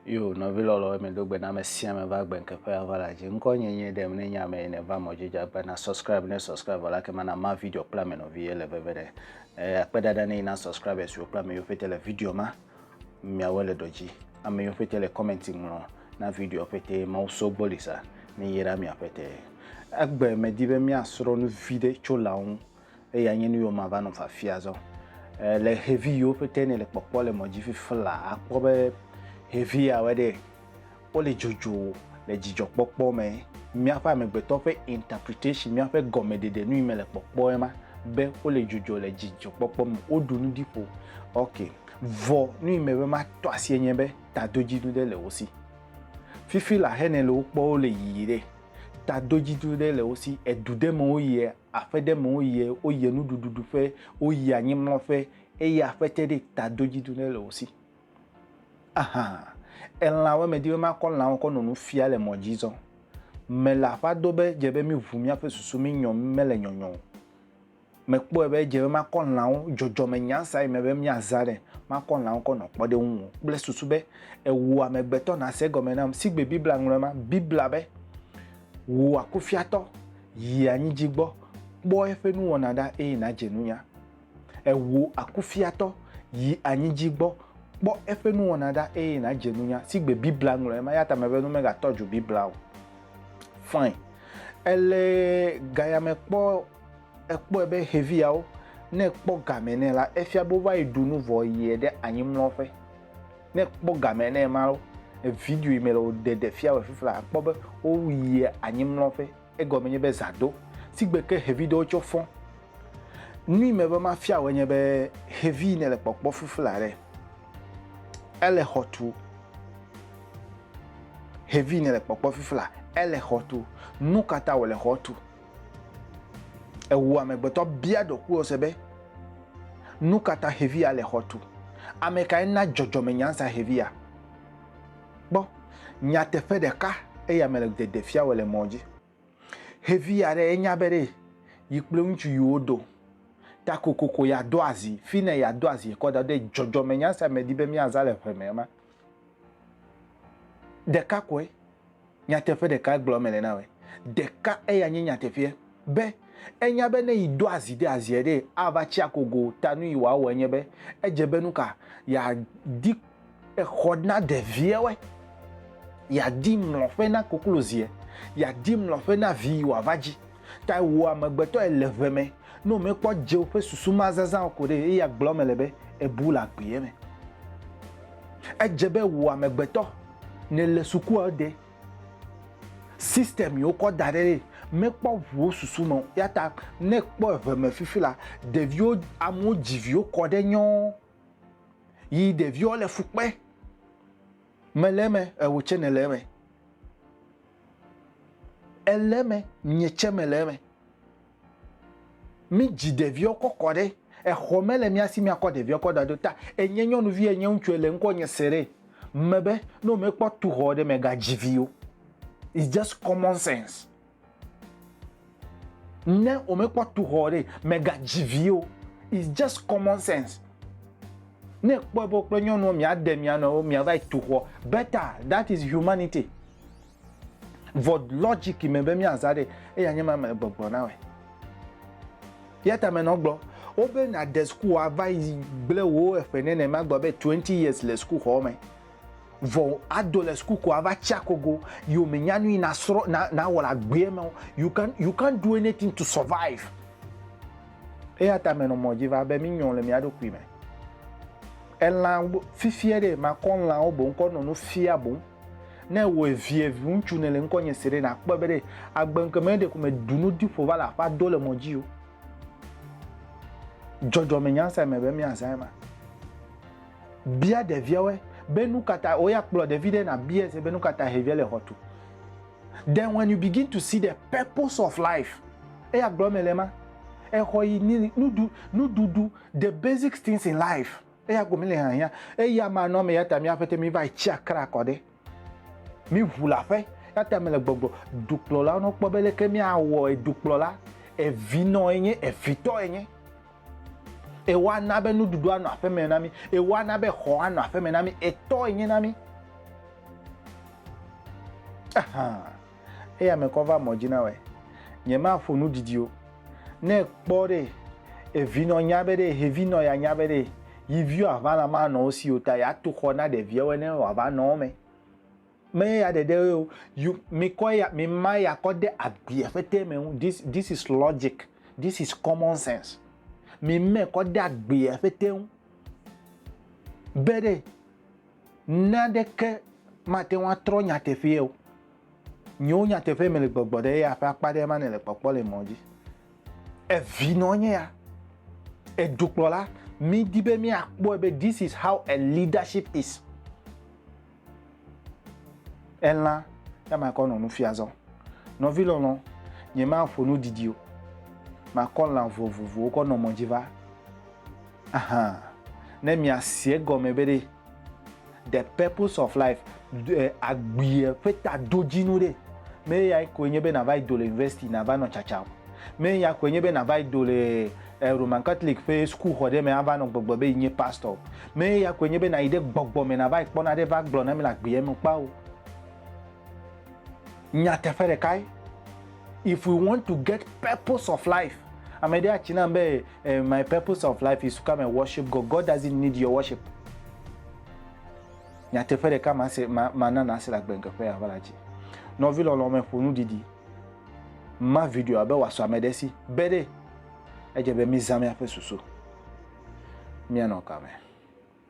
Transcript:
Yo nɔvi lɔlɔ̃wo mi do gbe na ame sia ame va gbe keƒe ava la dzi. Ŋkɔ nye nye ɖem ne nye ame yi ne va mɔ dzi dza gbe na subscribe ne subscribe la ke mana ma video kple ame nɔvi ye le veve ne. Eh, akpe dada ne yi na subscribers yo kple ame yo fete le video ma. Miawe le dodzi. Ame yo fete le comment ŋlɔ na video fete ma so bolisa ne yi ra mia fete. Agbe me di be mia sro nu vi de tso la ŋu. eya nye nu yiwo mava nɔ fafia zɔ eh, le xevi yiwo ƒete ne le kpɔkpɔ le mɔ dzi fifi la akpɔ be xevi yawe ɖe wole dzodzo le dzidzɔkpɔkpɔ me míaƒe amegbetɔ ƒe interpretation míaƒe gɔmeɖeɖe nu yi me le kpɔkpɔ ema be wole dzodzo le dzidzɔkpɔkpɔ me woɖu nu ɖi ƒo ok vɔ nu yi me be matɔ asie nye be tadodzinu ɖe le wo si fifi la hene le wo kpɔ wole yiyi ɖe tadodzinu ɖe le wo si edu ɖe me wo yia aƒe ɖe me woyie, woyie nuɖuɖu ɖu ƒe, woyie anyi mlɔ ƒe eye aƒe te ɖe ta do dzi do ne le wo si. Aha, elã wo me di be makɔ lãwo kɔ nɔ nu fia le mɔ dzi zɔn. Me le aƒa do be dze be mi ʋu miaƒe susu mi nyɔ me le nyɔnyɔ o. Me kpɔe be dze be makɔ lãwo dzɔdzɔ me nya sa yi me be mia zã ɖe makɔ lãwo kɔ nɔ kpɔ ɖe ŋu kple susu be ewu amegbetɔ na se gɔme nam sigbe Biblia ŋlɔe ma Biblia be wu akufiatɔ Yi anyi dzi gbɔ, kpɔ eƒe nuwɔna ɖa, eye nàdze nunya. Ewò akufiatɔ, yi anyi dzi gbɔ, kpɔ eƒe nuwɔna ɖa, eye nàdze nunya. Sigbe Biblia ŋlɔe ma, eya ta mebe nu megatɔ dzo Biblia o. Fine. Ele gayame kpɔ, ekpɔe be xeviawo, ne ekpɔ game nɛ la, efia be wova yi ɖu nu vɔ yiɛ ɖe anyi mlɔƒe. ne kpɔ game ne ma lo video yi me le wòɖe ɖe fia wɔ fifla akpɔ be woyia anyimlɔƒe egɔme nye be zã do si gbe ke xevi ɖewo tsɔ fɔ nu yi me be mafia wɔ nye be xevi yi ne le kpɔkpɔ fifla ɖe ele xɔ tu xevi yi ne le kpɔkpɔ fifla ele xɔ tu nu katã wòle xɔ tu Ewu amegbetɔ bia ɖokuiwose be, Nu ka ta xevi ya le xɔ tu? Ame kae na dzɔdzɔmenyansa xevi ya? Kpɔ nyateƒe ɖeka eya me le dede fia wòle mɔ dzi. Xevi ya ɖe enya be ɖe yi kple ŋutsu yi wodo ta kokoko yeado azi, fi ne yeado azi kɔ da ɖo ɖe dzɔdzɔmenyansa me di be míazã le ƒe me ema. Ɖeka koe. Nyateƒe ɖeka gblɔ mele na wòe. Ɖeka eya nye nyateƒea be enya be ne yi do azi ɖe aziɛ ɖee ava tsi akogo o ta nu yi wòawɔ enye be edze be nuka ya di exɔ na ɖeviɛwɛ, ya di mlɔƒe na kokloziɛ, ya di mlɔƒe na vi yi wòava dzi. Ta wò amegbetɔe le ʋe me, ne wòmekpɔ dze woƒe susu ma zazã o ko ɖe, eye agblɔ eme le be, Èbu le agbeɛ me. Edze be wò amegbetɔ, nèle sukua o ɖe, system yi wokɔ da ɖe ɖe, mekpɔ ŋu wò susu me o. Eya ta ne èkpɔ eʋe me fifi la, ɖeviwo, amewo dzi viwo kɔ ɖe nyɔɔ, yi ɖeviwo le fu kpe. Mele eme, ewò tsɛ nèle eme. Ele eme, nye tsɛ mele eme. Mídzi ɖeviwo kɔ kɔ ɖe exɔ me le mía si míakɔ ɖeviwo kɔ da ɖo ta. Enye nyɔnuvi enye ŋutsu ele ŋkɔ nye Seree mebe ne womekpɔ tu xɔ ɖe mègadzi vi o. It's just common sense. Ne wòmekpɔ tu xɔ ɖe, mègadzi vi o. It's just common sense. Ne kpɔe be kple nyɔnuwo miade mia nɔewo miava yi tu xɔ, better that is humanity. Vɔ logic me be miaza ɖe, eya nye ma me gbɔgblɔ na wòe. Ya ta menɔ gblɔ, wobe nàde sukuxɔa va yi gblẽ wò eƒe nenema gbɔ be twenty years le sukuxɔ me. vɔ ado le school ko ava tsi akogo yiwo me nya nui na srɔ na na wɔ le agbea me you can you can't do anything to survive eya ta menɔ mɔ dzi va be mi nyɔ le mia ɖokui me elã fifia ɖe makɔ lãwo boŋ kɔ nɔ nu fia boŋ ne wɔ evie ŋutsu ne le ŋkɔ nye se ɖe na kpɔ be ɖe agbe ŋkɔ me ɖe ko me du nu di ƒo va le aƒa do le mɔ dzi o jɔjɔ me nyansa me be mi azã ma Bia ɖeviawoe be nu ka ta woya kplɔ ɖevi ɖe na bia se be nu ka ta hevia le xɔ tu. Then when you begin to see the purpose of life, eya gblɔ me le ma. Exɔ yi ni nudu nududu the basic things in life. Eya gome le hahia. Eya ma nɔ me ya ta mi aƒete mi va tsi akra kɔ ɖe. Mi ʋu le aƒe, eya ta mele gbɔgblɔ dukplɔlawo ne wokpɔ be leke miawɔe dukplɔla evinɔ enye, evitɔ enye. Ewoana be nuɖuɖu anɔ aƒe me na mi, ewoana be xɔ anɔ aƒe me na mi, etɔ enye na mi. Ahan. eya me kɔ va mɔ dzi nawɔe. Nye ma ƒo nu didio. Ne kpɔ ɖe, evi nɔ nya be ɖe, hevi nɔ ya nya be ɖe, yi viwo a va la ma nɔ wo si o ta ya to xɔ na ɖevia wo ne wa va nɔ wo me. Me ya ɖe ɖe wo, you, mi kɔ ya, mi ma ya kɔ de agbi afete me ŋu, this, this is logic, this is common sense. Mi me kɔ de agbi afete ŋu. Be ɖe, Naneke mate ŋu atrɔ nyateƒee o. Nyewo nyateƒee mele gbɔgbɔ ɖe eya ƒe akpa ɖe ema nèle kpɔkpɔ le mɔ dzi. Evinɔ nye ya. Edukplɔla, mídi be míakpɔe be this is how a leadership is. Elã, ya makɔ nɔ nu fia zɔ. Nɔvi lɔlɔ, nyemaƒo nu didi o. Makɔ lã vovovowo kɔ nɔ mɔ dzi va. Ahan, ne miasi egɔme be ɖe The Purpose of Life, ɖe agbea ƒe tadodzinu ɖe, me eyae koe nye be nàva yi do le university nàva nɔ tsatsa o. Me eya koe nye be nàva yi do le eh, Roman Catholic ƒe sukuxɔ ɖe me ava nɔ gbɔgblɔ be yi nye pastor o. Me eya koe nye be nàyi ɖe gbɔgbɔ me nàva yi kpɔ naɖe va gblɔ na mi le agbea me kpa o. Nyateƒe ɖekae. If we want to get purpose of life, ame ɖe atsi nam be Eh, my purpose of life is to come and worship God. God doesn't need your worship. Nyateƒe ɖeka ma se ma ma nana ase le agbenkeƒe ya va la dzi. Nɔvi lɔlɔ me ƒonu didi. Ma video abe wòasɔ ame ɖe si be ɖe edze be mizã miaƒe susu. Mianɔ kame.